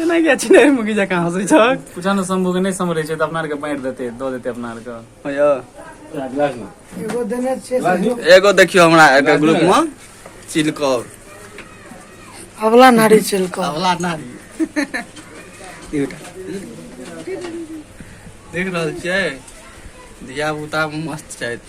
एना किया छिने मुगी जकाँ हँसै छ पुछानो सम्भव नै सम्हरै छै त अपना आरके बाँटि देतै दऽ देतै अपना आरके यो एगो देने छै एगो देखियो हमरा एकटा ग्रुप में चिलकौर अबला नारी चिलकौर अबला नारी एउटा देख रहल छियै धिया पुता मस्त छथि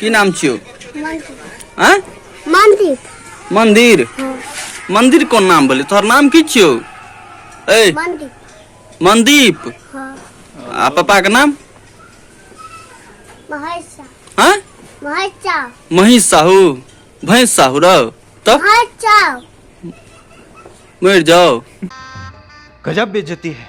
की नाम छियौ आँय मंदिर मंदिर मंदिर कोन नाम भेलै तोहर नाम की छियौ ए मंदिर मनदीप हाँ आ पापाके नाम महेशा आँय महेशा महेश साहू भैंस साहू रौ तब महेशा मरि जाओ गजब बेइज्जती है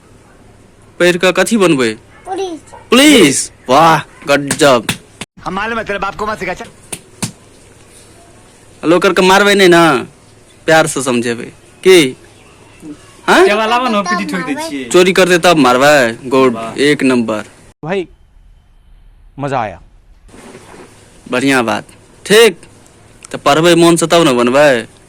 पढ़ि कऽ कथी बनबै पुलिस पुलिस वाह गजब हम मालूम है तेरे बाप को मत सिखा चल लोकर के मारबै नहि ने प्यार से समझेबै की हाँ केवा लावा न पीटी ठोक दै छियै चोरी करते तब मारबै गुड एक नंबर भाई मजा आया बढ़िया बात ठीक तऽ पढ़बै मोन से तब ने बनबै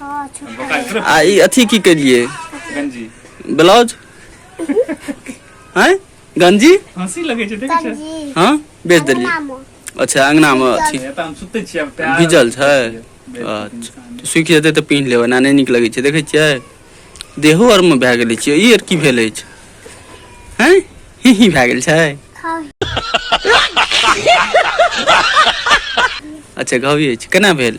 हाँ छुट्टा है आ ई अथी की करिए गंजी ब्लाउज हैं गंजी हंसी लगे छै देखे छै गंजी हाँ बेच देलिए नामो अच्छा अंगना में अथी एतऽ हम सुते छियै आब प्यार भिजल छै अच्छा तऽ सुखि जेतै तऽ पिन्ह लेबै ना नहि नीक लगै छै देखै छियै देहो आरमे भए गेलै छियै ई आर की भेल अछि हैं ही ही भए गेल छै खाओ अच्छा घावी अछि केना भेल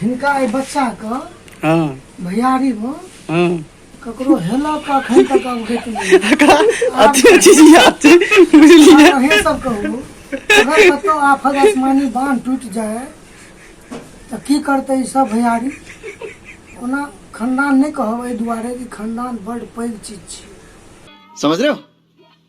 हिनका एहि बच्चा के हाँ भैयारी में हाँ ककरो हेला का अखन तक अवगत नहीं एकरा अथी चीज याद छै बुझलियै आब अहीं सब कहू अगर कतौ आफत आसमानी बांध टूटि जाय तऽ की करतै ई सब भैयारी ओना खानदान नहि कहब एहि दुआरे कि खानदान बड पैघ चीज छै समझ रहे हो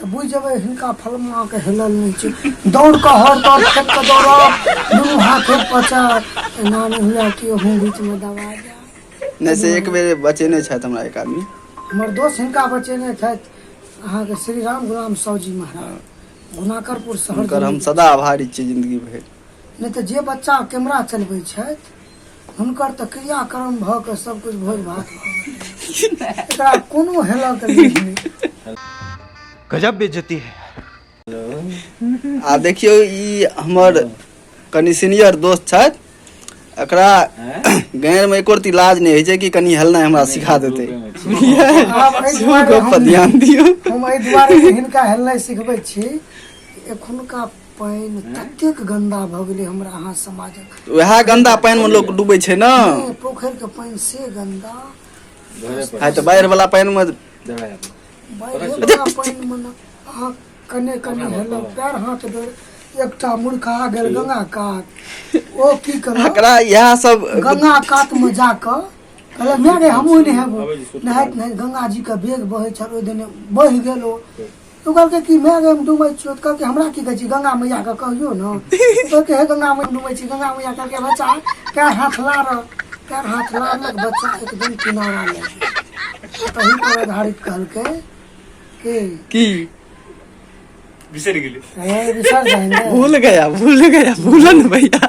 तऽ बुझि जेबै हिनका फलमाके हेलल नहि छै दौड़ कऽ हर दौड़ खेत कऽ दौड़ब दुनू हाथ एक पचार एना नहि हुए कि अहूँ बीचमे दबा जाय नहि से एक बेर बचेने छथि हमरा एक आदमी हमर दोस्त हिनका बचेने छथि अहाँके श्री राम गुलाम साहूजी महाराज गुनाकरपुर शहर हुनकर हम जिला- सदा आभारी छियै जिन्दगी भरि नहि तऽ जे बच्चा कैमरा चलबै छथि हुनकर तऽ क्रियाक्रम भऽ कऽ सब कुछ भोज भात एकरा कोनो हेलक नहि गजब बेइज्जती है आ देखियौ ई हमर कनि सीनियर दोस्त छथि एकरा गाँवमे एको रती लाज नहि होइ छै कि कनि हेलनाइ हमरा सिखा देतै आब एहि सेहो दुआरे गप पर हम- ध्यान दियौ हम एहि दुआरे हिनका हेलनाइ सिखबै छी एखुनका पानि ततेक गन्दा भऽ गेलै हमरा अहाँ समाजक उएह गन्दा पानिमे लोक डूबै छै ने नहि, पोखरिके पानि से गन्दा आइ तऽ बाढ़िवला पानिमे बाढ़िवला पानिमे ने अहाँ कने कने हेलक पैर हाथ डोर एकटा मुर्खा गेल गंगा कात ओ की करब एकरा इएह सब गंगा कातमे जा कऽ कहलक नहि रे हमहूँ नहि हेबो नहाइत नहाइत गंगाजीके बेग बहै छल ओहि दने बहि गेल ओ तू कहलकै कि माय गए हम डूबै छियौ तऽ कहलकै हमरा की कहै छी गंगा मैया के कहियो ने कहलकै हे गंगा मैया डूबै छी गंगा मैया कहलकै बच्चा कै हाथ लार कै हाथ लारलक बच्चा एकदम किनारा लए तही पर आधारित कहलकै कि की बिसरि गेलै ए, विसर जाएंगे भूल गया भूल गया भूलन भैया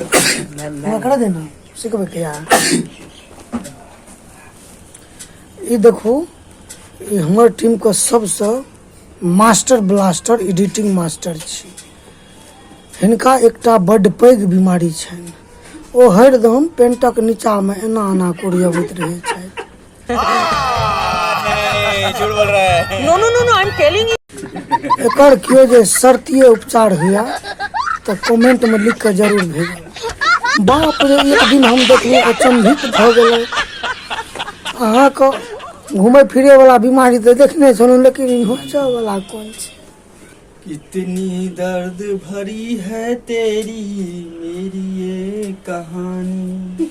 एकरा दे ना सीख बैठे यार ये देखो ये हमार टीम का सबसे मास्टर ब्लास्टर एडिटिंग मास्टर छी हिनका एकटा बड्ड पैघ बीमारी छनि ओ हरदम पेंटक नीचामे एना एना कोरियबैत रहैत छथि झूठ बोल रहा है no no no no I am telling you एकर केओ जे शर्तीय उपचार हुआ तऽ कमेंट में लिख के जरूर भेज बाप रे एक दिन हम देखलिए अचंभित भऽ गेलै अहाँके घूमे फिरे वाला बीमारी तऽ देखने छलहुँ लेकिन ई होचऽ वाला कोन छै कितनी दर्द भरी है तेरी मेरी ये कहानी